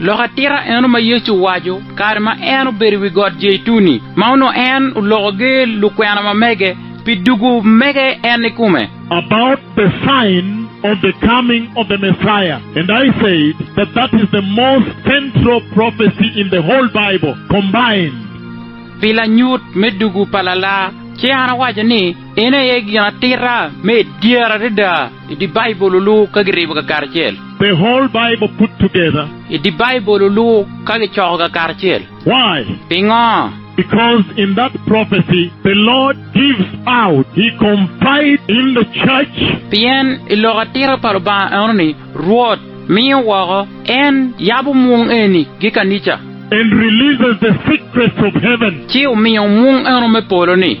Lok atika eno ma Yecu owaco kare ma en obedo i wi Got Jeituni, ma onongo en oloko ger lukwena ma mege pi dugo mege en ikome? about the sign of the coming of the Messiah and I said that that is the most central prophecy in the whole Bible combined. Pi lanyut me dugo pa Lalar, ci an awaco ni en aye gin atita me idyere adada. I dye Baibul olur ka giribo kakaracel. The whole Bible put together. I dye Baibul olur ka gicoko kakaracel. Why? Pingo? Because in that prophecy the Lord gives out, He confide in the church. Pien i lok atira pa Lubanga enoni Rwot miyo woko, En yabo mwung eni gi kanica. And releases the secrets of heaven. Ci omiyo mwung eno me polo ni.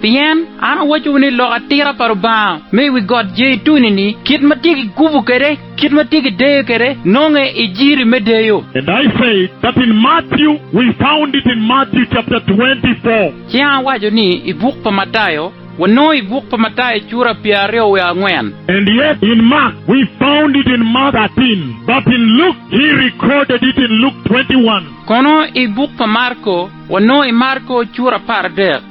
Pien an awacowu ni lok atira pa Lubanga me i wi got Jeituni-ni, kit ma tye kigubo kwede, kit ma tye kideyo kwede, nonge i jiri me deyo. And I said that in Matthew, we found it in Matthew chapter 24. Ci an awaco ni, I buk pa Matayo, wanongo i buk pa Matayo cura pyeraryo wiye angwen. And yet in Mark, we found it in Mark 13, but in Luke, he recorded it in Luke 21. Kono i buk pa Marko, wanongo i Marko cura apar adek.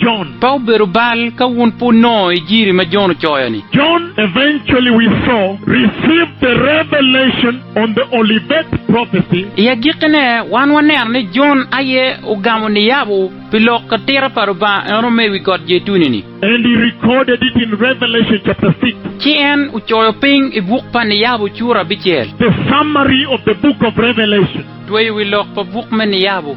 Jon. Pe obedo bal ka wun pe wunongo ijiri ma Jon ocoyo-ni. Jon eventually we saw received the revelation on the Olivet prophecy. I agikkine, wan waneno ni Jon aye ogamo niyabo pi lok atira pa Lubanga eno me i wi got Jeituni-ni. And he recorded it in Revelation chapter six. Ci en ocoyo piny i buk pa niyabo cura abicel. The summary of the book of Revelation. Tweyo wi lok pa buk me niyabo.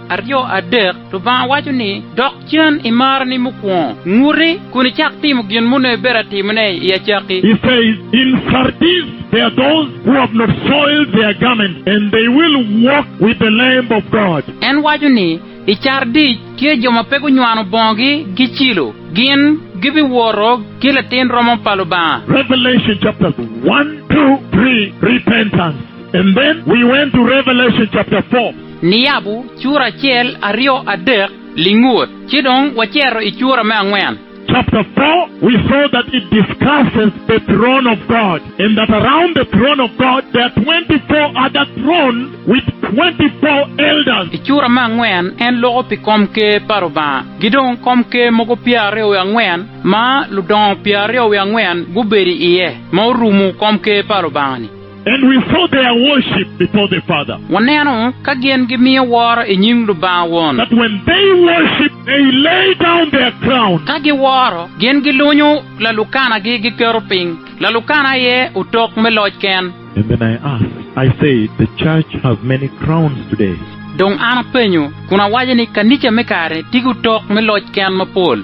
Aryo adek, Lubanga waco ni, Dok cen i marani mukwongo, nguti, kun icak timo gin moni ibedo atimone i acakki. He says, In Sardis there are those who have not soiled their garments, and they will walk with the Lamb of God. En waco ni, I Cardic tye jo ma pe gunywano bongogi gicilo, gin gibiwoto ki latin romo pa Lubanga. Revelation chapters one, two, three, Repentance, and then we went to Revelation chapter four. Niyabu cura acel, aryo, adek, lingut, ci dong wacito i cura me angwen. Chapter four, we saw that it discusses the throne of God and that around the throne of God there are twenty four other thrones with twenty four elders. I cura me angwen en loko pi kom ker pa Lubanga ki dong kom ker mogo pyeraryo wiye angwen ma ludongo pyeraryo wiye angwen gubedo iye ma orumo kom ker pa Lubanga-ni. And we saw their worship before the Father. Waneno ka gin gimiyo woro i nyim Lubanga Won. But when they worship, they lay down their crown. Ka giworo, gin gilunyo lalukanagi giketo piny, lalukana aye otok me loc ken. And then I asked, I said, The church has many crowns today. Dong an apenyo, kun awaco ni, Kanica me kare-ni tiko otok me loc ken mapol.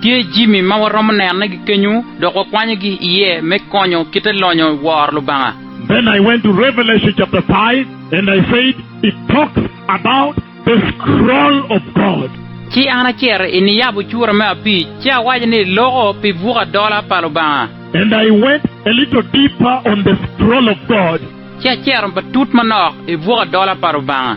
Tye jami ma waromo nenogi kenyu dok wakwanyogi iye me konyo kite lonyo woro Lubanga. Then I went to Revelation chapter five and I said, It talks about the scroll of God. Ci an acito i niyabo cura me abic, ci awaco ni, Loko pi buk adola pa Lubanga. And I went a little deeper on the scroll of God. Ci acito batut manok i buk adola pa Lubanga.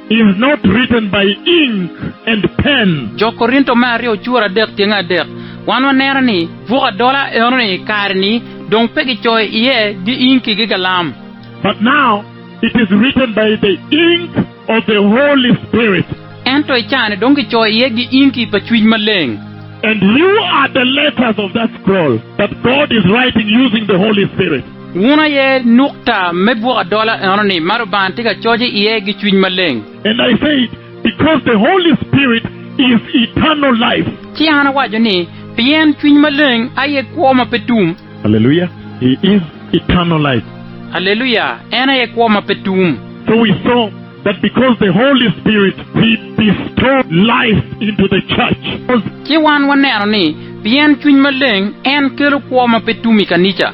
is not written by ink and pen. Jo Korinto me aryo cura adek tyenge adek, wan waneno ni buk adola enoni i kare-ni dong pe kicoyo iye gi inki gi galam. But now it is written by the ink of the Holy Spirit. Ento i caa-ni dong kicoyo iye gi inki pa Cwiny Maleng. And you are the letters of that scroll that God is writing using the Holy Spirit. Wun aye nukta me bwok adola enoni ma Lubanga tye ka coc iye gi cwiny maleng. And I said, Because the Holy Spirit is eternal life. Ci an awaco ni, Pien Cwiny Maleng aye kwo ma pe tum. Alleluia, He is eternal life. Alleluia, En aye kwo ma pe tum. So we saw that because the Holy Spirit, He bestowed life into the church. Ci wan waneno ni, pien Cwiny Maleng, En kelo kwo ma pe tum i kanica.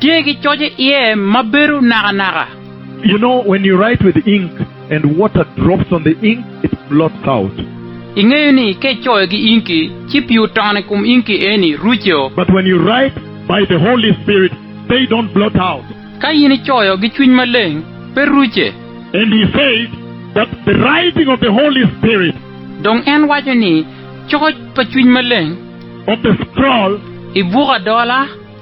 Tye ki coc i iye ma bedo nakanaka. You know when you write with ink and water drops on the ink it blots out. Ingeyo ni ka icoyo ki inki ci pii otono i kom inki eni ruco. But when you write by the Holy Spirit they don't blot out. Ka in icoyo ki Cwiny Maleng pe ruce. And he said that the writing of the Holy Spirit. Dong en waco ni coc pa Cwiny Maleng. Of the scroll. I buk adola.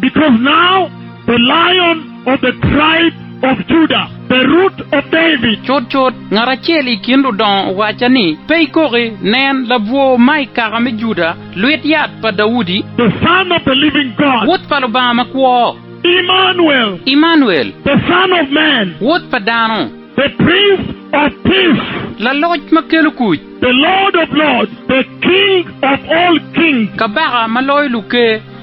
Because now the Lion of the tribe of Judah, the Root of David. Cutcut, ngat acel i kin ludongo owacca ni, Pe ikoki, nen, labwor ma i kaka me Juda, lwit yat pa Daudi. The Son of the Living God. Wod pa Lubanga makwo. Emmanuel. Emmanuel. The Son of Man. Wod pa dano. The Prince of Peace. Laloc ma kelo kuc. The Lord of Lords. The King of all kings. Kabaka ma loyo luker.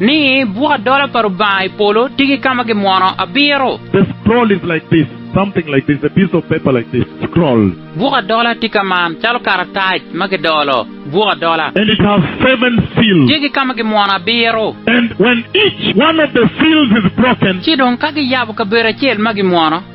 Ni, Buk adola pa Rubanga i polo tye ki ka ma gimwono abiro. The scroll is like this, something like this, a piece of paper like this, scroll. Buk adola tye ka man, calo karatac ma kidolo, buk adola. And it has seven seals. Tye ki ka ma gimwono abiro. And when each one of the seals is broken. Ci dong ka giyabo kabedo acel ma gimwono.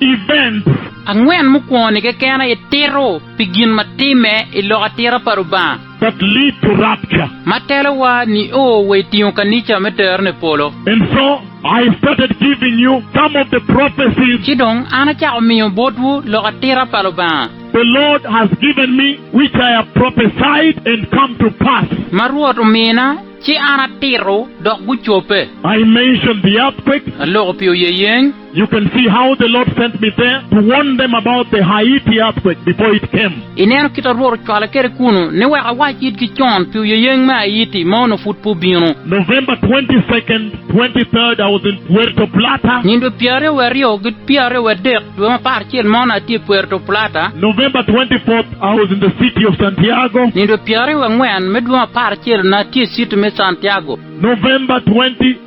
Events. Angwen mukwongo-ni keken aye tito pi gin ma timme i lok atira pa Lubanga. That lead to rapture. Ma telowa nio wa i tingo kanica me tero ni polo. And so, I started giving you some of the prophecies. Ci dong an acako miyo botwu lok atira pa Lubanga. The Lord has given me, which I have prophesied and come to pass. Ma Rwot omina, ci an atito, dok gucobbe. I mentioned the earthquake. Aloko pi oyeyeng. You can see how the Lord sent me there to warn them about the Haiti earthquake before it came. Ineno kit ma Rwot ocwala kwede kunu ni wek awac itgi con pi oyeyeng me Haiti ma onongo pud pe obino. November twenty second, twenty third, I was in Puerto Plata. Nyen dwe pyeraryo wa aryo ki pyeraryo wa adek dwe me apar acel mo na atye i Puerto Plata. November twenty fourth, I was in the city of Santiago. Nyen dwe pyeraryo wa angwen me dwe me apar acel na atye i city me Santiago. November twenty.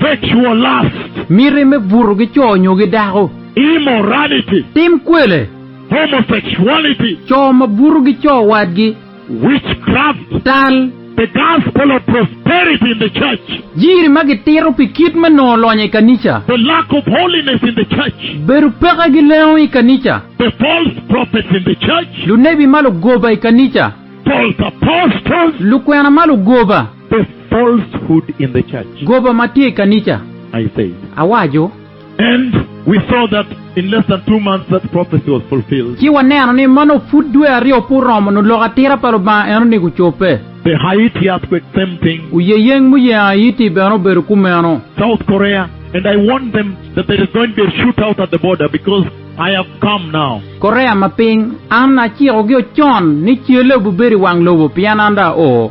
Sexual lust. Miti me buto ki co nyo ki dako. Immorality. Tim kwele. Homosexuality. Co ma buto ki co wadgi. Witchcraft. Tal. The gospel of prosperity in the church. Jiri ma gitito pi kit me nongo lonyo i kanica. The lack of holiness in the church. Bedo peke ki lengo i kanica. The false prophets in the church. Lunebi ma lugoba i kanica. False apostles. Lukwena ma lugoba. The falsehood in the church. Goba ma tye i kanica, I said. awaco. And we saw that in less than two months that prophecy was fulfilled. Ci waneno ni ma nongo pud dwe aryo pe oromo nongo lok atira pa Lubanga enoni gucobbe. The Haiti earthquake, same thing. Oyeyeng muyengo Haiti bene obedo kumeno. South Korea, and I warned them that there is going to be a shoot out at the border because I have come now. Korea ma Piny, an acikogi ocon ni celle obibedo i wang lobo pien an dong ao.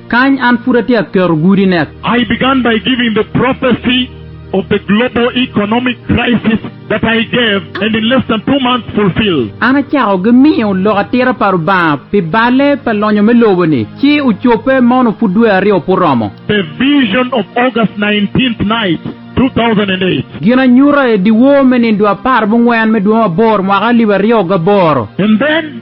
Kany an pud atye ka keto gudi nek. I began by giving the prophecy of the global economic crisis that I gave and in less than two months fulfilled. An acako gi miyo lok atira pa Lubanga pi balle pa lonyo me lobo ni, ci ocobbe mono pud dwe aryo pe oromo. The vision of August nineteenth night, two thousand and eight. Ginanyuta i dyewor me nindwa apar mungwen me dwe me aboro mwaka alip aryo gaboro. And then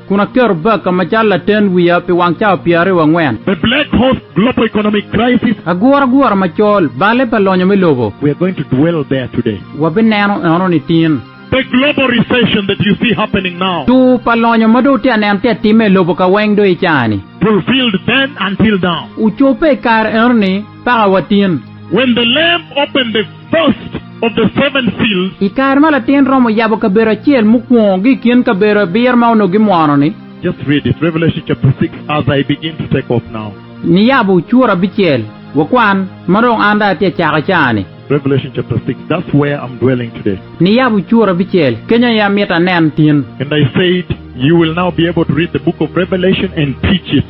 kun aketo Baker macalo laten wiya pi wang cawa pyeraryo wa ngwen. The Black Horse Global Economic Crisis. Aguragura macol, balle pa lonyo me lobo. We are going to dwell there today. Wabineno eno nitin. The Global Recession that you see happening now. Tur pa lonyo ma dong wutye ka neno tye ka timme i lobo kaweng dong i caa-ni. Fulfilled then until now. Ocobbe i kare eno-ni. paka watin. When the Lamb opened the first of the seven seals. I kare ma latin romo yabo kabedo acel mukwongo gi i kin kabedo abiro ma onongo gimwono-ni. Just read it, Revelation chapter six as I begin to take off now. Niyabo cura abicel, wakwan, ma dong an dong atye ka cako i caani. Revelation chapter six, That's where I'm dwelling today. Niyabo cura abicel, keny aye amito anen tin. And I said, You will now be able to read the book of Revelation and teach it.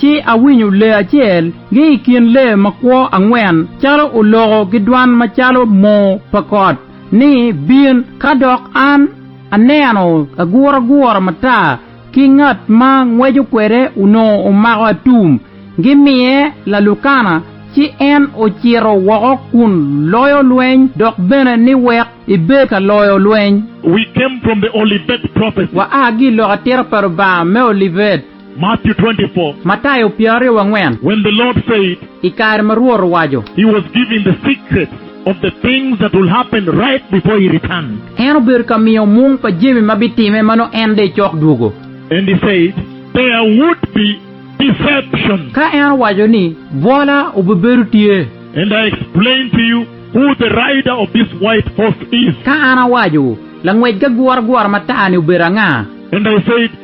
Ci awinyo lee acel gi i kin lee makwo angwen calo oloko ki dwan macalo moo pa kot ni, Bin, ka dok an aneno aguragura matar ki ngat ma ngweco kwede onongo omako atum, gimiye lalukana, ci en ocito woko kun loyo lweny dok bene ni wek ibed ka loyo lweny. We came from the Olivet prophecy. Waa ki i lok atira pa Lubanga me Olivet. Matthew 24. Matayo pyeraryo wangwen. When the Lord said. I kare ma Rwot owaco. He was giving the secrets of the things that will happen right before He returned. En obedo ka miyo mung pa jami ma bitimme ma nongo en dong ecok dwogo. And He said, There would be deception. Ka en owaco ni, Bwola obibedo tye. And I explained to you who the rider of this white horse is. Ka an awacowu, langwec gaguragura matar-ni obedo anga. And I said,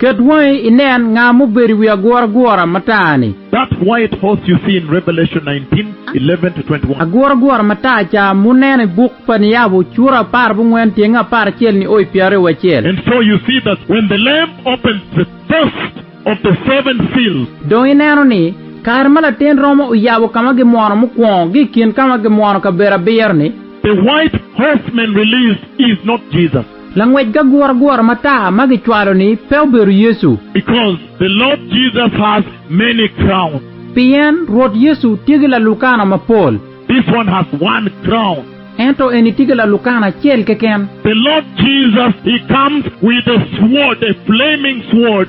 Ket wangi inen nga mubedo i wi aguragura matar-ni. Aguragura matar ca muneno i buk pa niyabo cura apar bungwen tyenge apar acel nio i pyeraryo wacel. Dong ineno ni, kare ma latin romo oyabo ka ma gimwono mukwongo gi i kin ka ma gimwono kabedo abiro-ni. Langwec gaguragura matar ma gicwalo-ni pe obedo Yecu. Because the Lord Jesus has many crowns. Pien Rwot Yecu tye ki lalukana mapol. This one has one crown. Ento eni tye ki lalukana acel keken. The Lord Jesus, He comes with a sword, a flaming sword.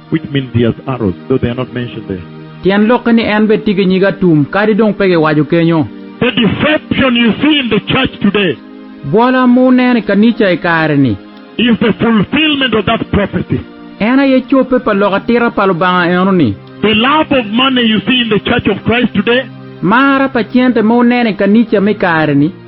which means he has arrows though they are not mentioned there. Tyen lokke ni en bene tye ki nyig atum kadi dong pe giwaco kenyo. The deception you see in the church today. Bwola ma wuneno i kanica i kare-ni. Is the fulfillment of that prophecy. En aye cobbe pa lok atira pa Lubanga eno-ni. The love of money you see in the church of Christ today. Mar pa cente ma wuneno i kanica me i kare-ni.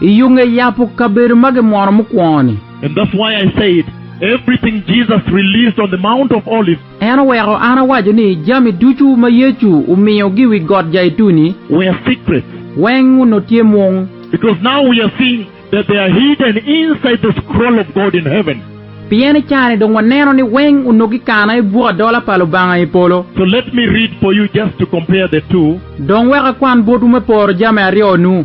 I yo nge yabo kabedo ma gimwono mukwongo-ni. En oweko an awaco ni jami ducu ma Yecu omiyogi i wi Got Jaituni weng onongo tye mung, pien i car-ni dong waneno ni weng onongo kikano i buk adola pa Lubanga i polo. Dong wek akwan botwu me poro jami aryo-nu.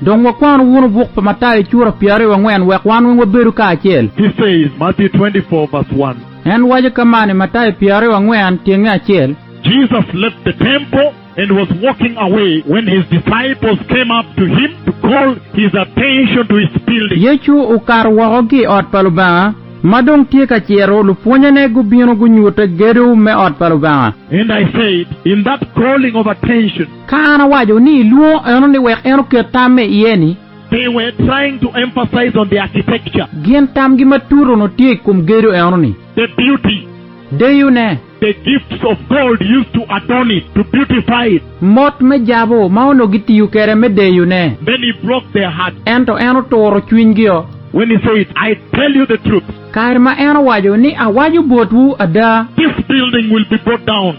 Dong wakwanu wunu buk pa Matayo cura pyeraryo angwen wek wan weng wabedu kacel. He says, Matthew 24 verse 1. En waco ka man i Matayo pyeraryo angwen tyenge acel. Jesus left the temple and was walking away when his disciples came up to him to call his attention to his building. Yecu okato woko ki i ot pa Lubanga, ma dong tye ka cito, lupwonnyene gubino gunyute gedo me ot pa Lubanga. And I said, In that calling of attention, Ka an awaco ni ilwongo eno ni wek en oket tam me iye ni. They were trying to emphasize on the architecture. Gin tamgi ma tut onongo tye i kom gedo eno ni. The beauty. Deyo ne. The gifts of gold used to adorn it, to beautify it. Mot me jabu ma onongo gitiyo kede me deyo ne. Then he broke their heart. Ento en oturo cwiny gi o. When he said, I tell you the truth. Kare ma en owaco ni, Awaco botwu ada. This building will be brought down.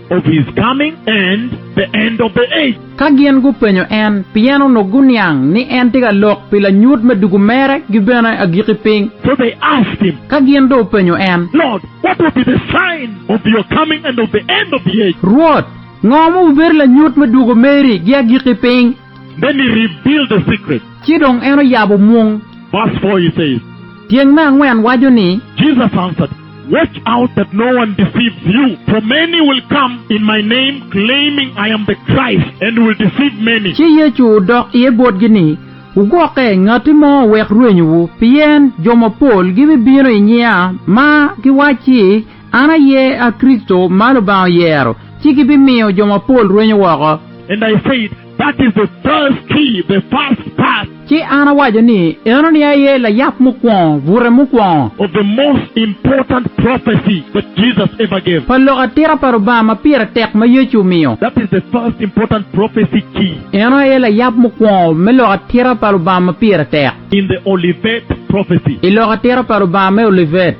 of his coming and the end of the age. Ka gin gupenyo en, pien onongo guniang ni en tye ka lok pi lanyut me dugu mere gi bene agikki piny. So they asked him. Ka gin dong openyo en. Lord, what will be the sign of your coming and of the end of the age? Rwot, ngo ma obibedo lanyut me dugu meri gi agikki piny? Then he revealed the secret. Ci dong en oyabo mung. Verse four, he says. Tyeng me angwen waco ni. Jesus answered. Watch out that no one deceives you, for many will come in my name, claiming I am the Christ, and will deceive many. Ci Yecu odok iye botgi ni, Wugwokke ngatti mo owek rwenyowu, pien jo mapol gibibino i nyinga, ma giwacci, 'An aye a Kricito ma Lubanga oyero, ci gibimiyo jo mapol rwenyo woko. And I said, That is the first key, the first part. Ci an awaco ni, Enoni aye layab mukwongo, bute mukwongo. Of the most important prophecy that Jesus ever gave. Pa lok atika pa Lubanga ma pire tek ma Yecu omiyo. That is the first important prophecy key. Eno aye layab mukwongo me lok atika pa Lubanga ma pire tek. In the Olivet prophecy. I lok atika pa Lubanga me Olivet.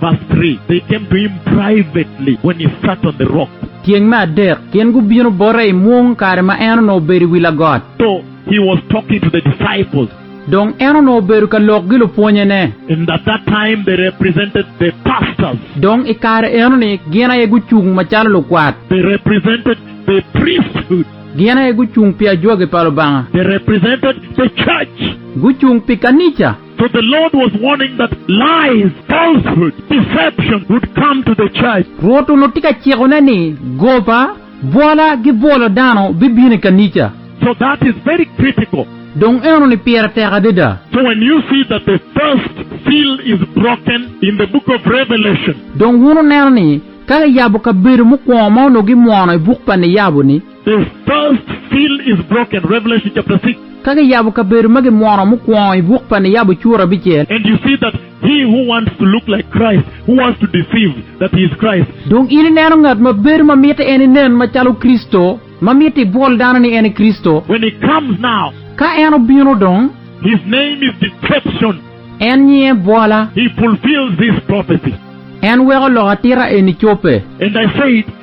Verse 3, They came to him privately when he sat on the rock. Tyeng me adek, gin gubino bote i mwung kare ma en onongo obedo i wi lagot. So he was talking to the disciples. Dong en onongo obedo ka lok gi lupwonyene. And at that time they represented the pastors. Dong i kare enoni gin aye gucung macalo lukwat. They represented the priesthood. Gin aye gucung pi ajwagi pa Lubanga. They represented the church. Gucung pi kanica. For the Lord was warning that lies, falsehood, deception would come to the church. Rwot onongo tye ka cikone ni goba, bwola, ki bwolo dano bibino i kanica. So that is very critical. Dong enoni pire tek adada. So when you see that the first seal is broken in the book of Revelation. Dong wun wuneno ni ka kiyabo kabedo mukwongo ma onongo gimwono i buk pa Niyabo-ni. The first seal is broken, Revelation chapter 6. Ka giyabo kabedo ma gimwono mukwongo i buk pa niyabo cur abicel. And you see that he who wants to look like Christ, who wants to deceive that he is Christ. Dong in ineno ngat ma bedo ma mitte en inen macalo Kricito, ma mitte ibwol dano ni en i Kricito. When he comes now. Ka en obino dong. His name is Deception. En nyinge Bwola. He fulfils this prophecy. En weko lok atita eni cobbe. And I said.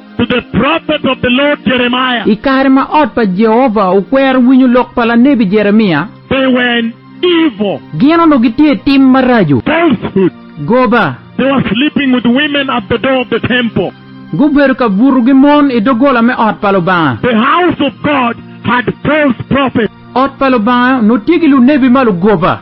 to the prophet of the Lord Jeremiah. I kare ma ot pa Jehovah okwero winyo lok pa lanebi Jeremia. They were in evil. Gin onongo gitye i tim maraco. Falsehood. Goba. They were sleeping with women at the door of the temple. Gubedo ka buto gi mon i doggola me ot pa Lubanga. The house of God had false prophets. Ot pa Lubanga onongo tye ki lunebi ma lugoba.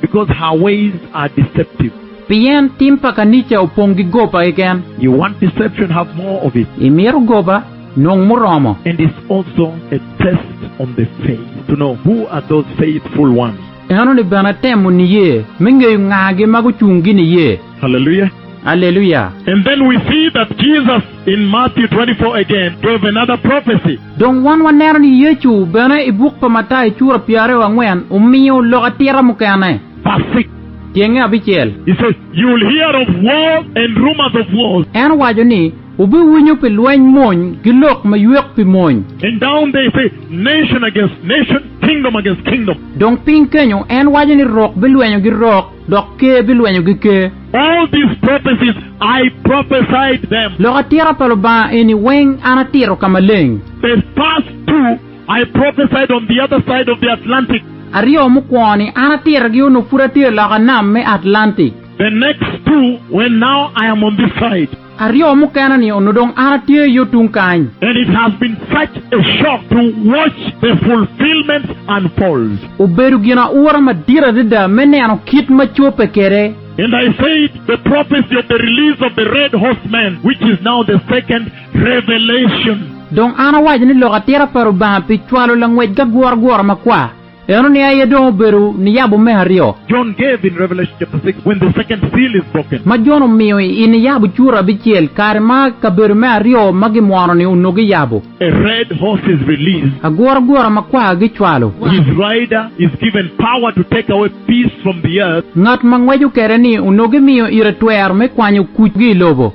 Because her ways are deceptive. Pien tim pa kanica opong ki goba keken. You want deception, have more of it. Imito goba, nong muromo. And is also a test on the faith, to know who are those faithful ones. Enoni bene temo niye, me ngeyo ngagi ma gucung gi niye. Hallelujah. Aleluya! And then we see that Jesus in Matthew twenty four again gave another prophecy. Dong wan waneno ni Yecu bene i buk pa Matayo cura pyeraryo angwen omiyo lok atira mukene. Verse six. Tyenge abicel. He says, You will hear of wars and rumors of wars. En owaco ni, Wubiwinyo pi lweny mony ki lok maywek pi mony. And down there he says, Nation against nation, kingdom against kingdom. Dong piny kenyo en waco ni rok bilwenyo gi rok. Dok Ker bilwenyogi Ker. All these prophecies I prophesied them. Lok atira pa Lubanga eni weng an atito ka maleng. The first two I prophesied on the other side of the Atlantic. Aryo mukwongo-ni an atitogi onongo pud atye loka nam me Atlantic. The next two when now I am on this side. Aryo mukene ni onongo dong an atye yo tung kany. And it has been such a shock to watch the fulfillments unfold. Obedo gin aura madit adada me neno kit ma cobbe kwede. And I said, The prophecy of the release of the red horseman, which is now the second revelation. Dong an awaco ni, Lok atira pa Lubanga pi cwalo langwec gaguragura makwar. Eno ni aye dong obedo niyabo me aryo. John gave in Revelation chapter six when the second seal is broken. Ma Jon omiyo i niyabo cura abicel kare ma kabedo me aryo ma gimwono ni onongo giyabo. A red horse is released. Aguragura makwar gicwalo. His rider is given power to take away peace from the earth. Ngat ma ngweco kede ni onongo gimiyo ire twero me kwanyo kuc gi i lobo.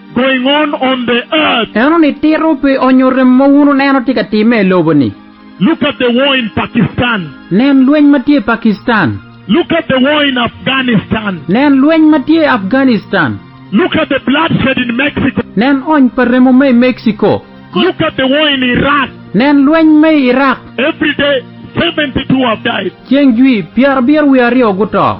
going on on the earth. Eno ni tito pi onyo rem ma wun wuneno tye ka timme i lobo ni. Look at the war in Pakistan. Nen lweny ma tye i Pakistan. Look at the war in Afghanistan. Nen lweny ma tye i Afghanistan. Look at the bloodshed in Mexico. Nen ony pa remo ma i Mexico. Look at the war in Iraq. Nen lweny ma i Iraq. Every day seventy two have died. Ceng jwi, pyerabiro wiye aryo guto.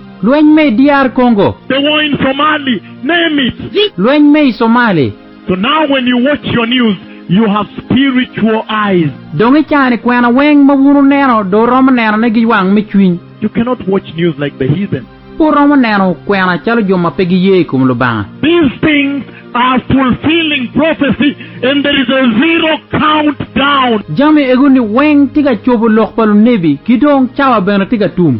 Lweny me i DR Congo. The war in Somali, name it. Lweny me i Somali. So now when you watch your news, you have spiritual eyes. Dong i caa-ni kwena weng ma wun wuneno dong wuromo nenone gi wang me cwiny. You cannot watch news like the heathen. Pe wuromo neno kwena calo jo ma pe giye i kom Lubanga. These things are fulfilling prophecy and there is a zero count down. Jami ego-ni weng tye ka cobo lok pa lunebi, ki dong cawa bene tye ka tum.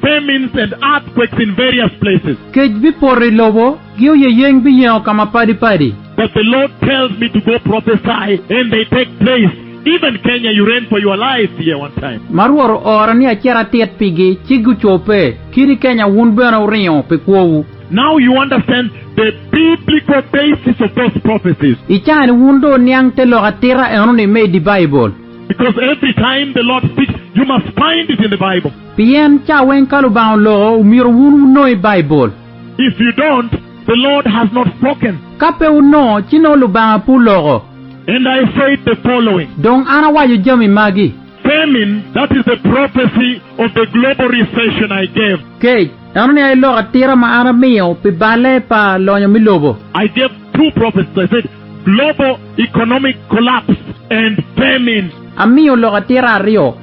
Famines and earthquakes in various places. Kec bipoto i lobo, gi oyeyeng biyengo ka mapadi padi. But the Lord tells me to go prophesy and they take place, even Kenya you ran for your life here one time. Ma Rwot oora ni acit atit pigi, ci gucobbe, kit i Kenya wun bene wuringo pi kwowu. Now you understand the biblical basis of those prophecies. I caa-ni wun dong wuniang te lok atita eno-ni me i di Baibul. Because every time the Lord speaks, you must find it in the Bible. Pien ca weng ka Lubanga oloko, omyero wun wunoi Baibul. If you don't, the Lord has not spoken. Ka pe wunongo, ci nongo Lubanga pe oloko. And I said the following. Dong an awaco jami magi. Famine, that is the prophecy of the global recession I gave. Kec, eno ni aye lok atira ma an amiyo pi balle pa lonyo me lobo. I gave two prophecies, I said, global economic collapse and famine. Amiyo lok atira aryo.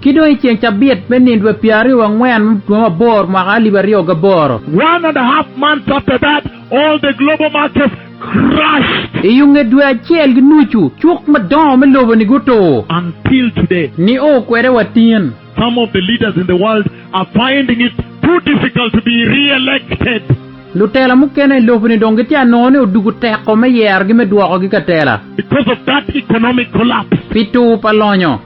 Ki dong i ceng cabit me nindwe pyeraryo wa ngwen me dwe mabor mwaka alip aryo gaboro. One and a half months after that, all the global markets crashed. I yo nge dwe acel ki nucu, cuk madongo me lobo ni gutur. Until today. Ni o kwede wa tin. Some of the leaders in the world are finding it too difficult to be re-elected. Lutela mukene i lobo ni dong gitye a nongo ni odugu teko me yerogi me dwokogi ka tela. Because of that economic collapse. Pi tur pa lonyo.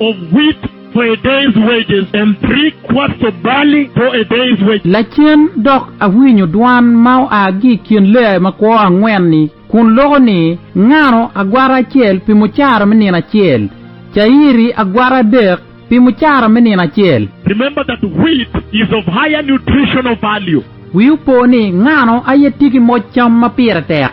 of wheat for a day's wages, and three quarts of barley for a day's wages. Lacen dok awinyo dwan ma oa ki i kin leae makwo angwen-ni, kun loko ni, Ngano agwata acel pi mucara me nino acel? Cayiri agwata adek pi mucara me nino acel? Remember that wheat is of higher nutritional value. Wiu po ni, Ngano aye tye ki moc cam ma pire tek?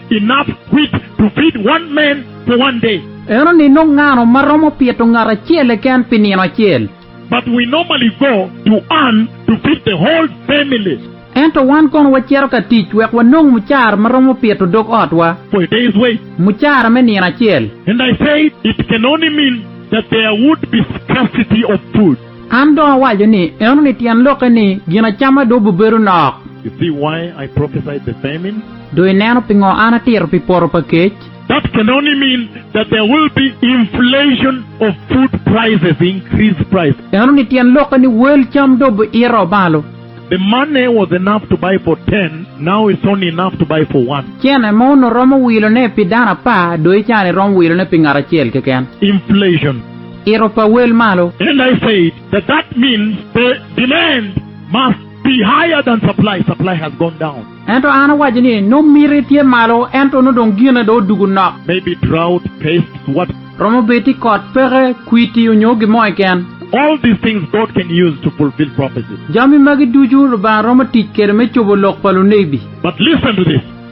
Enough quit to feed one man for one day. En onino ngano ma romo pito ngat acel keken pi nino acel? But we normally go to earn to feed the whole family. Ento wan kono wacito ka tic wek wanong mucara ma romo pito dog otwa. For a day's wage. Mucara me nino acel. And I said, It can only mean that there would be scarcity of food. An dong awaco ni, Enoni tyen lokke ni, Gin acama dong bibedo nok. You see why I prophesied the famine? Do ineno pingo an atito pi poto pa kec? That can only mean that there will be inflation of food prices, increased price. Enoni tyen lokke ni wel cam dong biito malo. The money was enough to buy for ten, now it's only enough to buy for one. Cene ma onongo romo wilone pi dano apar, do i cani romo wilone pi ngat acel keken. Inflation. Ito pa wel malo. And I said, That that means the demand must be higher than supply, supply has gone down. Ento an awaco ni, Nongo miti tye malo, ento nongo dong gine dong odugo nok. Maybe drought, pests, what. Romo bedo tye kot, peke, kwiti, onyo gin mo keken. All these things God can use to fulfill prophecy. Jami magi ducu Lubanga romo tic kwede me cobo lok pa lunebi. But listen to this.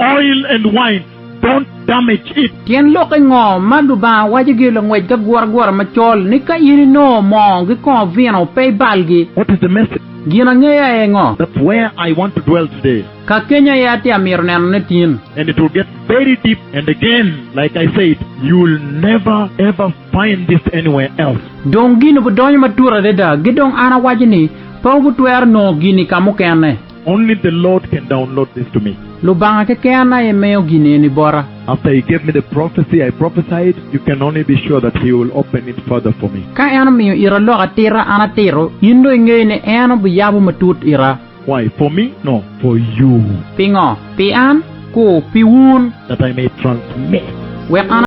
Oil and wine don't damage it. Tyen lokke ngo ma Lubanga waco gi langwec ka guragura macol ni ka in inongo moo gi kongo vino pe ibalgi? What is the message? Gin angeyo aye ngo? That's where I want to dwell today. Ka kenya aye atye amito neno ne tin. And it will get very deep and again like I said you'll never ever find this anywhere else. Dong gin obudonyo matut adada gi dong an awaco ni pe wubutwero nongo gini kamukene. Only the Lord can download this to me. Lubanga keken aye miyo gin eni bota. After he gave me the prophecy I prophesied, you can only be sure that he will open it further for me. Ka en omiyo ita oloko atita, an atito, in dong ingeyo ni en obiyabo matut ita. Why, for me? No, for you. Pingo? Pi an? Ku, pi wun. That I may transmit. Wek an.